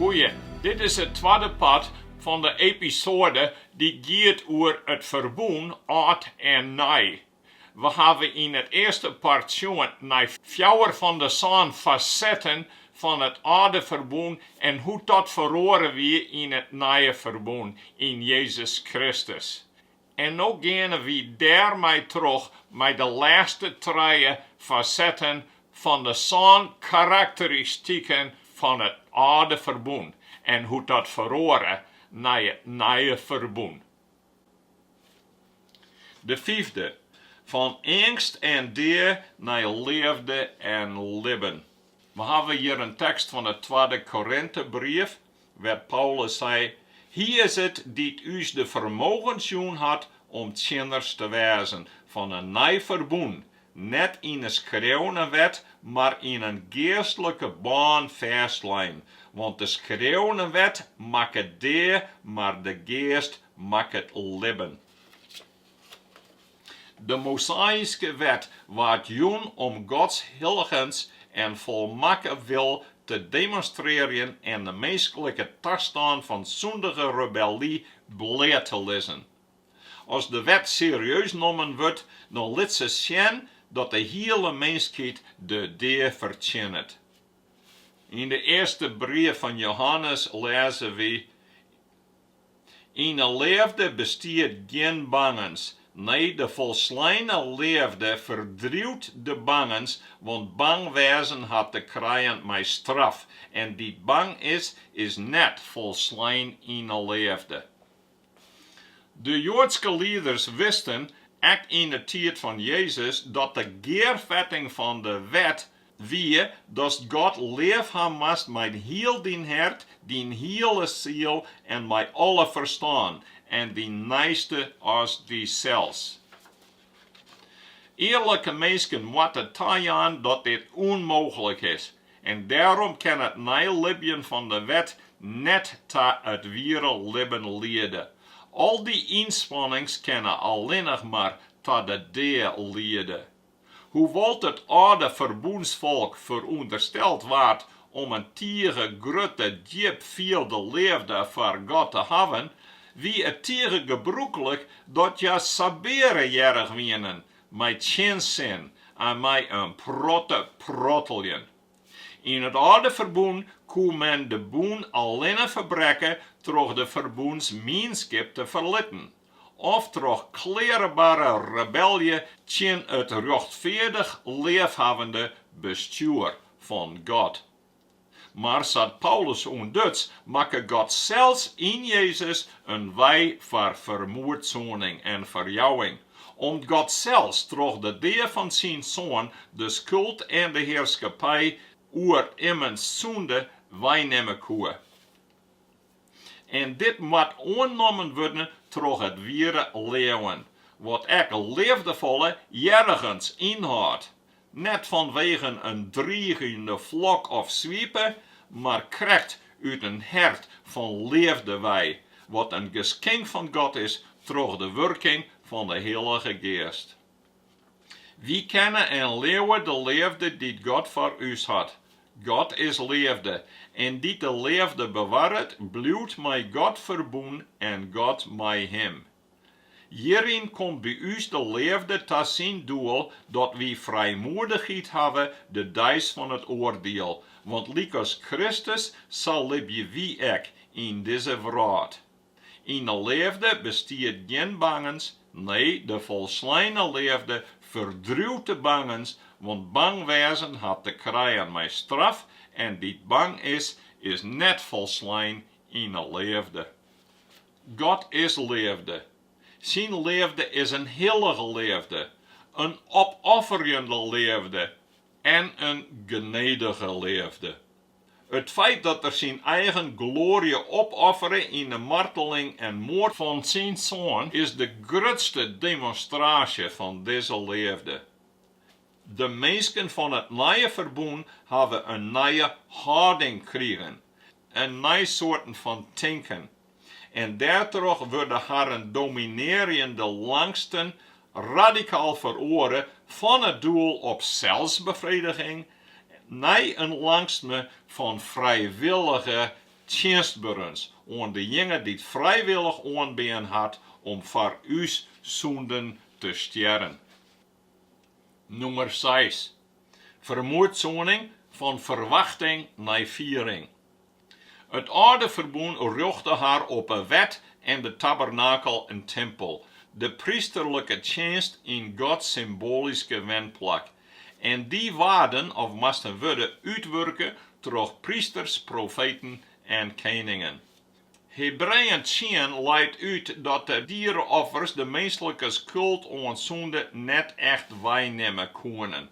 Goeie, dit is it twadde part fan de episoade dy't giet oer it ferbûn âld en nij. We hawwe yn it earste part sjoen nei fjouwer fan de sân fasetten fan it âlde ferbûn en hoe't dat feroare wie yn it nije ferbûn yn Jezus Kristus. En no geane wy dêr mei troch mei de lêste trije fasetten fan de sân karakteristiken fan it âlde ferbûn en hoe't dat feroare nei it nije ferbûn. De fyfde, fan eangst en dea nei leafde en libben. We hawwe hjir in tekst fan it twadde Korintebrief, wêr't Paulus sei, Hy is it dy't ús de fermogens jûn hat om tsjinners te wêzen fan in nij ferbûn, net yn 'e skreaune wet, mar yn in geastlike bân fêstlein, want de skreaune wet makket dea, mar de Geast makket libben. De Mosaiske Wet waard jûn om Gods hilligens en folmakke wil te demonstrearjen en de minsklike tastân fan sûndige rebelly bleat te lizzen. As de Wet serieus nommen wurdt, dan lit se sjen dat de hiele minskheid de dea fertsjinnet. Yn de earste brief fan Johannes lêze wy, Yn 'e leafde bestiet gjin bangens. Nee, de folsleine leafde ferdriuwt de bangens, want bang wêzen hat te krijen mei straf en dy't bang is, is net folslein yn 'e leafde. De joadske lieders wisten, ek yn 'e tiid fan Jezus, dat de gearfetting fan de wet wie datst God leaf ha moast mei hiel dyn hert, dyn hiele siel en mei alle ferstân, en dyn neiste as dysels. Earlike minsken moatte tajaan dat dit ûnmooglik is, en dêrom kin it neilibjen fan de wet net ta it wiere libben liede. Al dy ynspannings kinne allinnich mar ta de dea liede. Hoewol't it âlde ferbûnsfolk ferûndersteld waard om in tige grutte djipfielde leafde foar God te hawwen, wie it tige gebrûklik dat hja sabeare hearrich wienen mei tsjinsin en mei in protte protteljen. Yn it âlde ferbûn koe men de bûn allinne ferbrekke troch de ferbûnsmienskip te ferlitten. of troch klearebare rebelje tsjin it rjochtfeardich leafhawwende bestjoer fan God. Mar sa't Paulus ûntduts, makke God sels yn Jezus in wei foar fermoedsoening en ferjouwing, om't God sels troch de dea fan syn Soan de skuld en de hearskippij oer immens sûnde weinimme koe. en dit moat oannommen wurden troch it wiere leauwen, wat ek leafdefolle hearrigens ynhâldt, net fanwegen in driigende flok of swipe, mar krekt út in hert fan leafde wei, wat in geskink fan God is troch de wurking fan de Hillige Geast. Wy kenne en leauwe de leafde dy't God foar ús hat. God is leafde, en dy't de leafde bewarret, bliuwt mei God ferbûn en God mei him. Hjiryn komt by ús de leafde ta syn doel dat wy frijmoedichheid hawwe de deis fan it oardiel, want lykas Kristus sa libje wy ek yn dizze wrâld. Yn de leafde bestiet gjin bangens, nee, de folsleine leafde ferdriuwt de bangens, want bang wêzen hat te krijen mei straf en dy't bang is, is net folslein yn 'e leafde. God is leafde. Syn leafde is in hillige leafde, in opofferjende leafde en in genedige leafde. It feit dat er syn eigen gloarje opoffere yn 'e marteling en moard fan syn Soan is de grutste demonstraasje fan dizze leafde. De minsken fan it Nije Ferbûn hawwe in nije hâlding krigen, in nij soarten fan tinken, en dêrtroch wurde harren dominearjende langsten radikaal feroare fan it doel op selsbefrediging nei in langstme fan frijwillige tsjinstberens oan dejinge dy't frijwillich oanbean hat om foar ús sûnden te stjerren. Nûmer seis, Fermoedsoening fan ferwachting nei fiering. It âlde ferbûn rjochte har op 'e wet en de tabernakel en timpel, de prysterlike tsjinst yn Gods symboalyske wenplak. En dy waarden, of moasten wurde, útwurke troch prysters, profeten en keningen. Hebreeën tsien leit út dat de diereoffers de minslike skuld oan sûnde net echt weinimme koenen.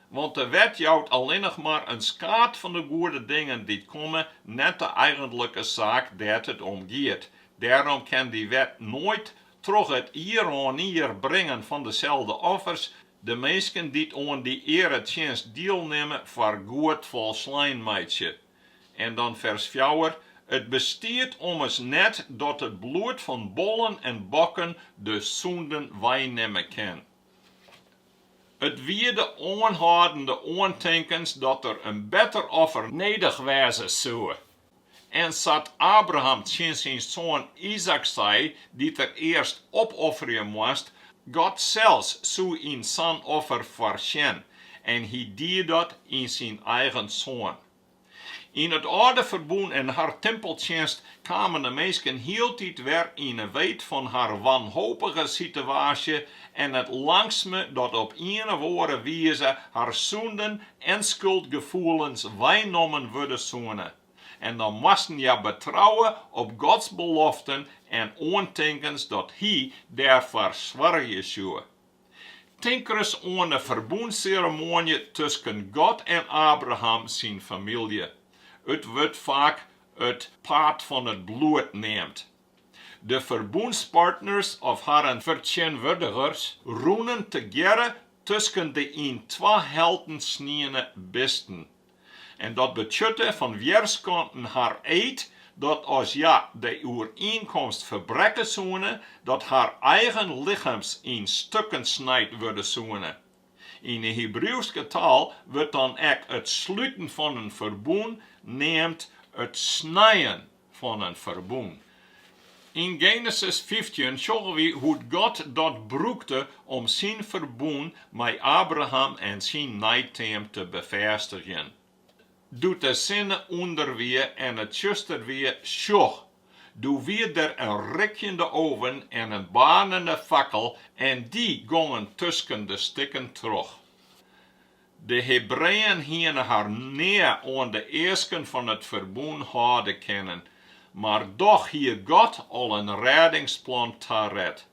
Want de wet jout allinnich mar in skaad fan de goede dingen dy't komme, net de eigentlike saak dêr't it om giet. Dêrom kin dy wet noait, troch it ieroanier bringen fan deselde offers, de minsken dy't oan dy earetsjinst dielnimme foar goed folslein meitsje. En dan fers fjouwer, It bestiet ommers net dat it bloed fan bollen en bokken de sûnden weinimme kin. It wie de oanhâldende oantinkens dat der in better offer nedich wêze soe. En sa't Abraham tsjin syn soan Izaäk sei, dy't er earst opofferje moast, God sels soe yn sa'n offer foarsjen, en hy die dat yn syn eigen soan. Yn it âlde ferbûn en har timpeltsjinst kamen de minsken hieltyd wer yn 'e weet fan har wanhopige sitewaasje en it langsme dat op ien of oare wize har sûnden en skuldgefoelens weinommen wurde soene. En dan moasten hja betrouwe op Gods beloften en oantinkens dat Hy dêrfoar soargje soe. Tink ris oan de ferbûnsseremoanje tusken God en Abraham syn famylje. It wurdt faak it paad fan it bloed neamd. De ferbûnspartners of harren fertsjinwurdigers rûnen tegearre tusken de yn twa helten sniene bisten. en dat betsjutte fan wjerskanten har eed dat as hja de oerienkomst ferbrekke soene, dat har eigen lichems yn stukken snijd wurde soene. Yn 'e Hibriuwske taal wurdt dan ek it sluten fan in ferbûn neamd it snijen. fan in ferbûn. Yn Genesis fyftjin sjogge wy hoe't God dat brûkte om syn ferbûn mei Abraham en syn neiteam te befêstigjen. Doe't de sinne ûnder wie en it tsjuster wie, sjoch, doe wie der in rikjende ûne en in baarnende fakkel en dy gongen tusken de stikken troch. De Hebreeën hiene har nea oan de easken fan it ferbûn hâlde kinnen, mar dochs hie God al in rêdingsplan taret.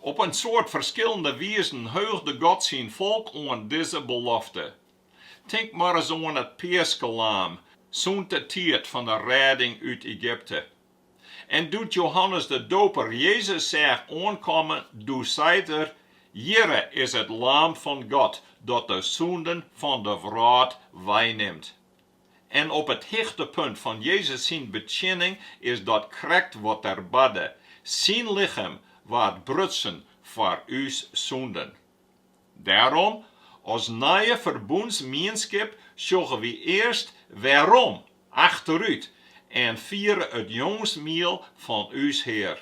Op in soad ferskillende wizen heugde God syn folk oan dizze belofte. Tink mar ris oan it peaskelaam sûnt de tiid fan de rêding út Egypte. En doe't Johannes de Doper Jezus seach oankomme, doe seit er, Hjirre is it Laam fan God, dat de sûnden fan de wrâld weinimt. En op it hichtepunt fan Jezus syn betsjinning is dat krekt wat er barde, Syn lichem waard brutsen foar ús sûnden. Dêrom, as nije ferbûnsmienskip sjogge wy earst wêrom achterút en fiere it jûnsmiel fan ús Hear.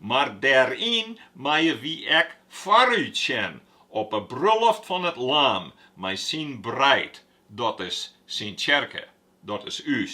Mar dêryn meie wy ek foarút sjen op 'e bruloft fan it Lam mei syn breid, dat is syn tsjerke, dat is ús.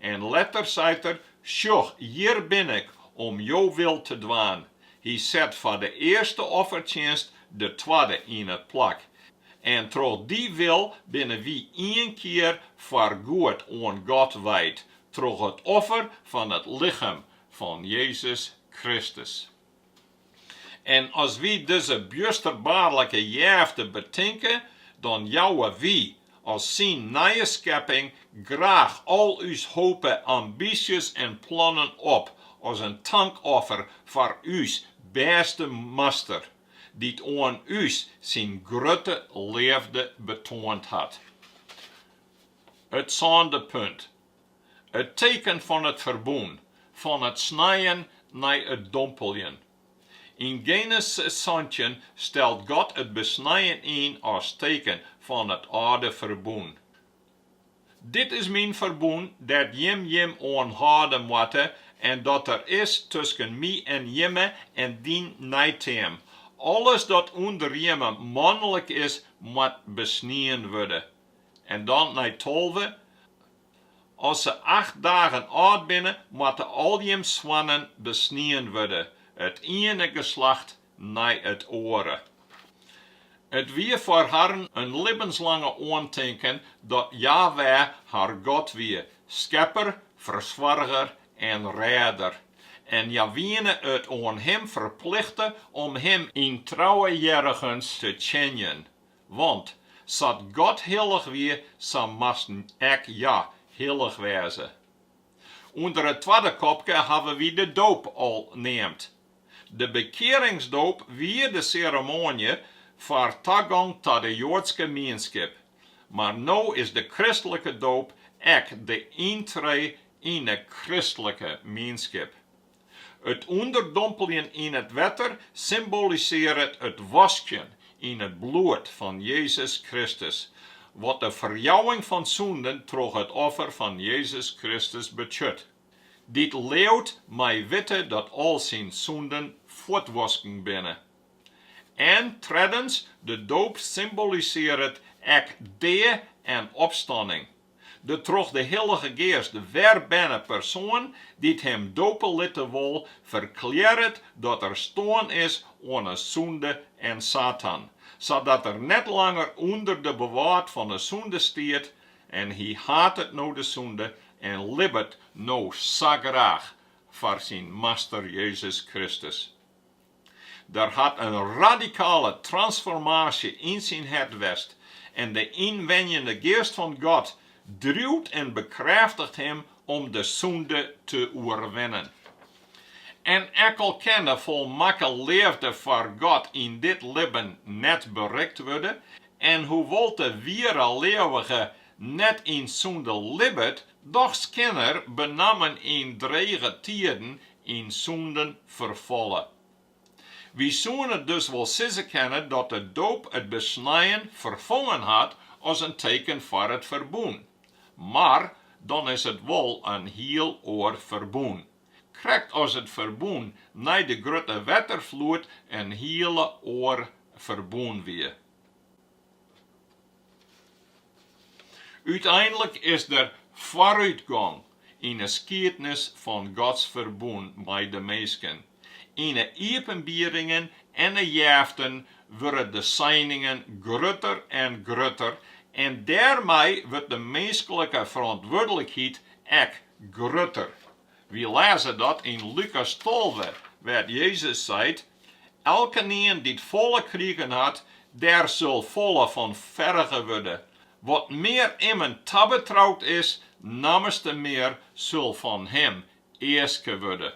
En letter seit er, Sjoch, hjir bin ik, om jo wil te dwaan. Hy set foar de earste offertsjinst de twadde yn it plak. En troch dy wil binne wy ien kear foar goed oan God wijd, troch it offer fan it lichem fan Jezus Kristus. En as wy dizze bjusterbaarlike jefte betinke, dan jouwe wy, as syn nije skepping, graach al ús hope, ambysjes en plannen op, as in tankoffer foar ús bêste Master, dy't oan ús syn grutte leafde betoand hat. It sânde punt. It teken fan it ferbûn, fan it snijen nei it dompeljen. Yn Genesis santjin stelt God it besnijen yn as teken fan it âlde ferbûn. Dit is myn ferbûn dêr't jim jim oan hâlde moatte en dat der is tusken my en jimme en dyn neiteam. Alles dat ûnder jimme manlik is, moat besnien wurde. en dan nei tolve. As se acht dagen âld binne, moatte al jim soannen besnien wurde, it iene geslacht nei it oare. It wie foar harren ien libbenslange oantinken dat Jaweh har God wie, Skepper, Fersoarger en Rêder, en hja wiene it oan Him ferplichte om Him yn trouwe hearrigens te tsjinjen, Want sa't God hillich wie, sa moasten ek hja hillich wêze. Under it twadde kopke hawwe wy de doop al neamd. De bekearingsdoop wie de seremoanje foar tagong ta de Joadske mienskip, mar no is de kristlike doop ek de yntree yn 'e kristlike mienskip. It ûnderdompeljen yn it wetter symbolisearret it waskjen yn it bloed fan Jezus Kristus, wat de ferjouwing fan sûnden troch it offer fan Jezus Kristus betsjut. Dy't leaut mei witte dat al syn sûnden fuortwasken binne. En treddens, de doop symbolisearret ek dea en opstanning, De troch de Hillige Geast werberne persoan dy't him dope litte wol, ferklearret dat er stoarn is oan 'e sûnde en Satan, sadat er net langer ûnder it bewâld fan 'e sûnde stiet, en hy hatet no de sûnde en libbet no sa graach foar syn Master Jezus Kristus. Der hat in radikale transformaasje yn syn hert west en de ynwenjende Geast fan God driuwt en bekrêftigt him om de sûnde te oerwinnen. En ek al kin de folmakke leafde foar God yn dit libben net berikt wurde en hoewol't de wiere leauwige net yn sûnde libbet, dochs kin er, benammen yn drege tiiden, yn sûnde ferfalle. Wy soene dus wol sizze kinne dat de doop it besnijen ferfongen hat as in teken foar it ferbûn. Mar dan is it wol in hiel oar ferbûn. Krekt as it ferbûn nei de grutte wetterfloed in hiele oar ferbûn wie. Uteinlik is der foarútgong yn 'e skiednis fan Gods ferbûn mei de minsken. Yn 'e iepenbieringen en 'e jeften wurde de seiningen grutter en grutter en dêrmei wurdt de minsklike ferantwurdlikheid ek grutter. Wy lêze dat yn Lukas tolve, wêr't Jezus seit, Elkenien dy't folle krigen hat, dêr sil folle fan ferge wurde. Wat mear immen tabetroud is, nammers te mear sil fan him easke wurde.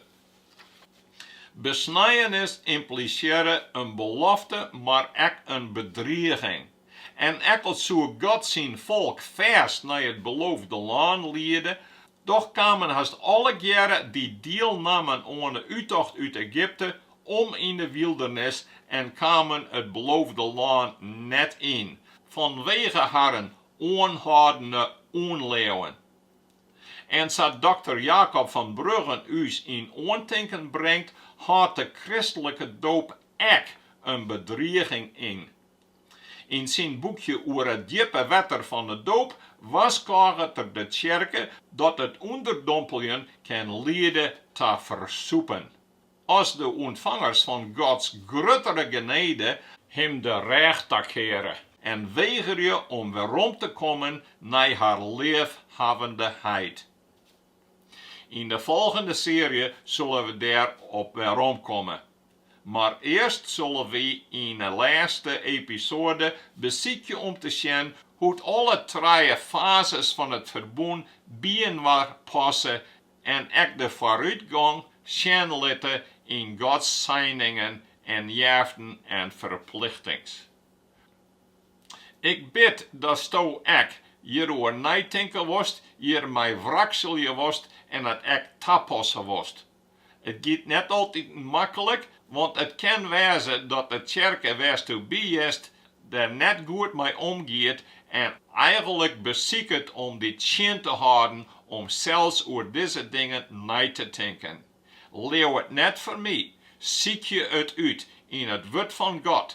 Besnijenis ymplisearre in belofte mar ek in bedriging. En ek al soe God syn folk fêst nei it Beloofde Lân liede, dochs kamen hast allegearre dy't dielnamen oan 'e úttocht út Egypte om yn de wyldernis en kamen it Beloofde Lân net yn, fanwege harren oanhâldende ûnleauwen. En sa't dokter Jakob van Bruggen ús yn oantinken bringt, hâldt de kristlike doop ek in bedriging yn. Yn syn boekje oer it djippe wetter fan de doop warskôget er de tsjerke dat it ûnderdompeljen kin liede ta fersûpen, as de ûntfangers fan Gods gruttere genede him de rêch takeare en wegerje om werom te kommen nei har leafhawwende heit. Yn de folgjende searje sille we dêr op weromkomme. Mar earst solle wy yn 'e lêste episoade besykje om te sjen hoe't alle trije fazes fan it ferbûn byinoar passe en ek de foarútgong sjen litte yn Gods seiningen en jeften en ferplichtings. Ik bid datsto ek hjiroer neitinke wolst, hjirmei wrakselje wolst en it ek tapasse wolst. It giet net altyd makkelik, want it kin wêze dat de tsjerke wêr'tsto bist der net goed mei omgiet en eigenlik besiket om dy tsjin te hâlden om sels oer dizze dingen nei te tinken. Leau it net foar my, sykje it út yn it Wurd fan God,